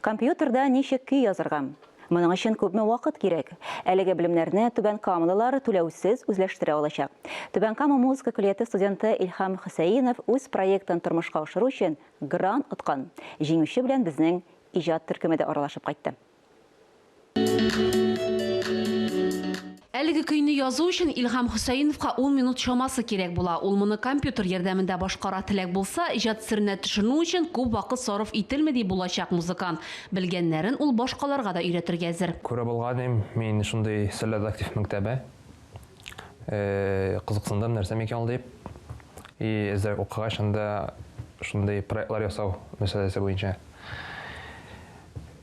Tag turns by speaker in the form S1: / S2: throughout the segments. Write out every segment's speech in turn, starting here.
S1: Компьютерда ничек көй язырга? Моның өчен күпме вакыт кирәк? Әлеге белемнәрне Түбән Камалылар түләүсез үзләштерә алачак. Түбән Кама музыка көллияте студенты Илһам Хөсәенов үз проектын тормышка ашыру өчен грант откан. Җиңүче белән безнең иҗат төркеме дә аралашып кайтты.
S2: Әлеге көйне язу өчен Илһам Хөсәеновка ун минут чамасы кирәк була. Ул моны компьютер ярдәмендә башкара. Теләк булса, иҗат серенә төшенү өчен күп вакыт сарыф ителми, ди булачак музыкант. Белгәннәрен ул башкаларга да өйрәтергә әзер. Күреп алганым,
S3: мин шундый серләр дә актив мәктәбе. Кызыксындым, нәрсә микән ул дип. И әзрәк укыгач, анда шундый проектлар ясау мәсьәләсе буенча.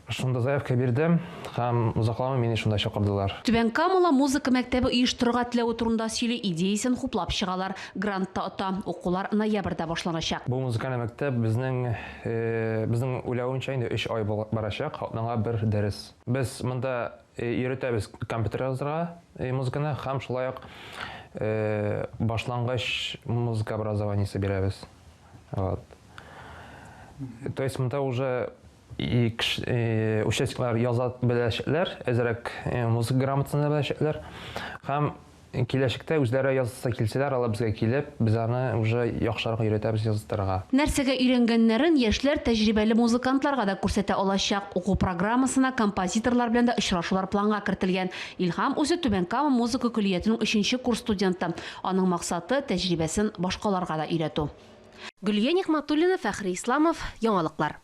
S3: Шунда заявка бирдем һәм озакламый мине шунда чакырдылар. Түбән Камала
S2: музыка мәктәбе оештырырга теләве турында сөйли, идеясен хуплап чыгалар. Грант та ота. Укулар ноябрьдә башланачак. Бу музыкаль мәктәп
S3: безнең, безнең уйлавымча, инде өч ай барачак, атнага бер дәрес. Без монда өйрәтәбез компьютер язырга музыканы һәм шулай ук башлангыч музыка образованиесе бирәбез. Вот. То есть монда уже И кеше, э, участниклар яза беләчәкләр, әзрәк э, музыка грамотасын беләчәкләр. Һәм киләчәктә үзләре язасы килсәләр, алар безгә килеп, без аны уже яхшырак өйрәтәбез языттырырга. Нәрсәгә өйрәнгәннәрен
S2: яшьләр тәҗрибәле музыкантларга да күрсәтә алачак. Уку программасына композиторлар белән дә очрашулар планга кертелгән. Илһам үзе Түбән Кама музыка көллиятенең өченче курс студенты. Аның максаты, тәҗрибәсен башкаларга да өйрәтү. Гөлия Нигъмәтуллина, Фәхри Исламов, Яңалыклар.